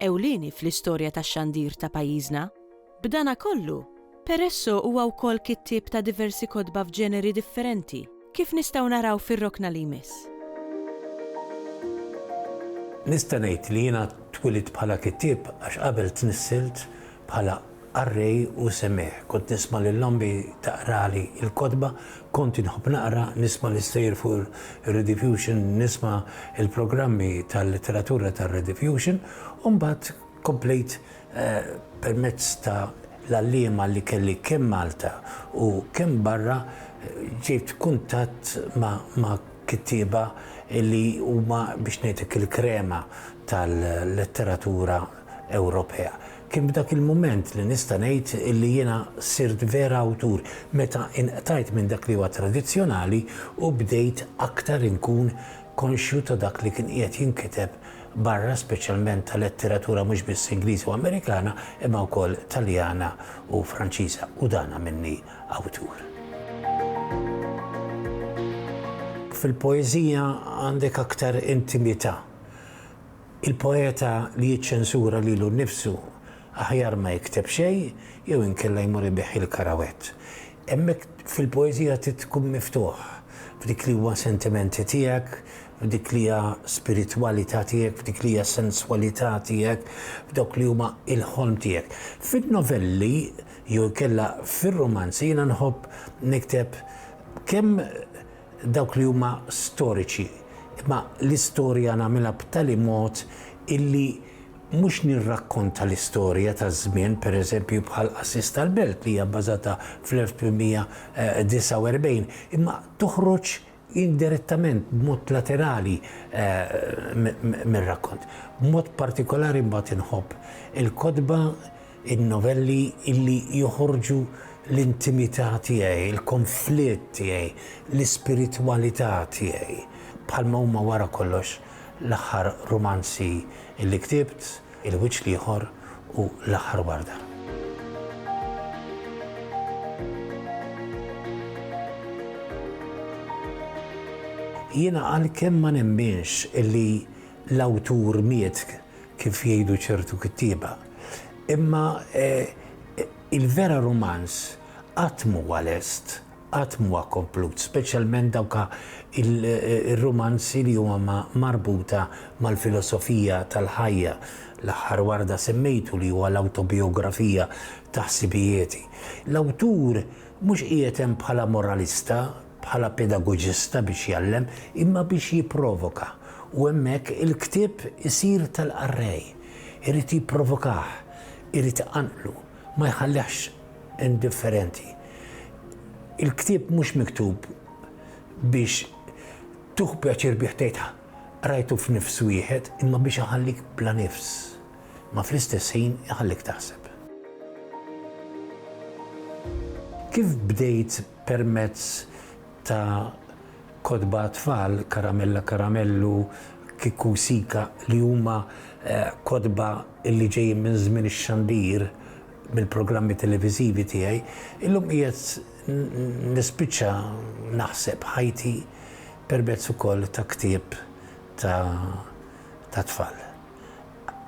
ewlieni fl-istorja tax-xandir ta' pajjiżna. B'danakollu, Peresso huwa wkoll kittieb ta' diversi kotba f'ġeneri differenti, kif nistgħu naraw fir-rokna li jmiss. Nista' ngħid li jiena twilidt bħala kittieb għax qabel tnissilt Bħala qarrej u semgħieħ, kont nisma' lil ommi taqrali l-kotba, kont inħobb naqra, nisma' l-istejjer fuq ir-Rediffusion, nisma' l-programmi tal-letteratura tar-Rediffusion, u mbagħad komplejt permezz ta' l-għalliema li kelli kemm Malta u kemm barra, ġejt kuntatt ma' kittieba li huma biex ngħidlek il-krema tal-letteratura Ewropea. Kien f'dak il-mument li nista' ngħid li jiena sirt vera awtur, meta inqtajt minn dak li huwa tradizzjonali u bdejt aktar inkun konxju ta' dak li kien qiegħed jinkiteb barra speċjalment ta' letteratura mhux biss Ingliża u Amerikana imma wkoll Taljana u Franċiża u dan għamilni awtur. Fil-poeżija għandek aktar intimità. Il-poeta li jiċċensura lilu nnifsu aħjar ma jikteb xejn jew inkella jmur ibigħ il-karawett. Hemmhekk fil-poeżija trid tkun miftuħ f'dik li huwa sentimenti tiegħek, f'dik li hija spiritwalità tiegħek, f'dik li hija senswalità tiegħek, f'dawk li huma l-ħolm tiegħek. Fin-novelli jew inkella fir-rumanzi jiena nħobb nikteb kemm dawk li huma storiċi, imma l-istorja nagħmilha b'tali mod illi mhux nirrakkonta l-istorja taż-żmien, pereżempju bħal Qassis tal-Belt li hija bbażata fl-1849, imma toħroġ indirettament, b'mod laterali mir-rakkont. B'mod partikolari mbagħad inħobb il-kotba, In-novelli li joħorġu l-intimità tiegħi, il-konflitt tiegħi, l-ispiritwalità tiegħi, bħalma huma wara kollox l-aħħar rumanzi li ktibt, Il-Wiċċ l-Ieħor u L-Aħħar Warda. Jiena għalkemm ma nemminx li l-awtur miet kif jgħidu ċertu kittieba. Imma il-vera rumanz qatt m'huwa lest, qatt m'huwa komplut, speċjalment dawk ir-rumanzi li huma marbuta mal-filosofija tal-ħajja, l-aħħar warda semmejtu li huwa l-awtobijografija ta' ħsibijieti. L-awtur mhux qiegħed hemm bħala moralista, bħala pedagoġista biex jgħallem, imma biex jipprovoka, u hemmhekk il-ktieb isir tal-qarrej. Irid jipprovokah, irid iqanqlu, ma jħallihx indifferenti. Il-ktieb mhux miktub biex tieħu pjaċir bih tgħid qrajtu f'nifs wieħed, imma biex iħallik bla nifs, ma fl-istess ħin iħallik taħseb. Kif bdejt permezz ta' kotba għat-tfal, Karamella Karamellu, Kiku Sika, li huma kotba li ġejjin minn żmien ix-xandir, mill-programmi televiżivi tiegħi, illum qiegħed nispiċċa naħseb ħajti permezz ukoll ta' ktieb tat-tfal.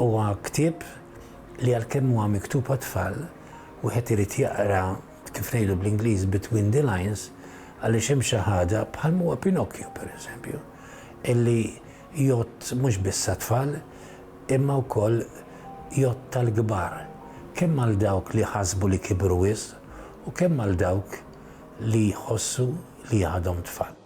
Huwa ktieb li għalkemm huwa miktub għat-tfal, wieħed irid jaqra kif ngħidu bl-Ingliż, between the lines, għaliex hemm xi ħaġa, bħalma huwa Pinocchio, pereżempju, illi jgħodd mhux biss għat-tfal, imma wkoll jgħodd għall-kbar, kemm għal dawk li jħassbu li kibru wisq u kemm għal dawk li jħossu li għadhom tfal.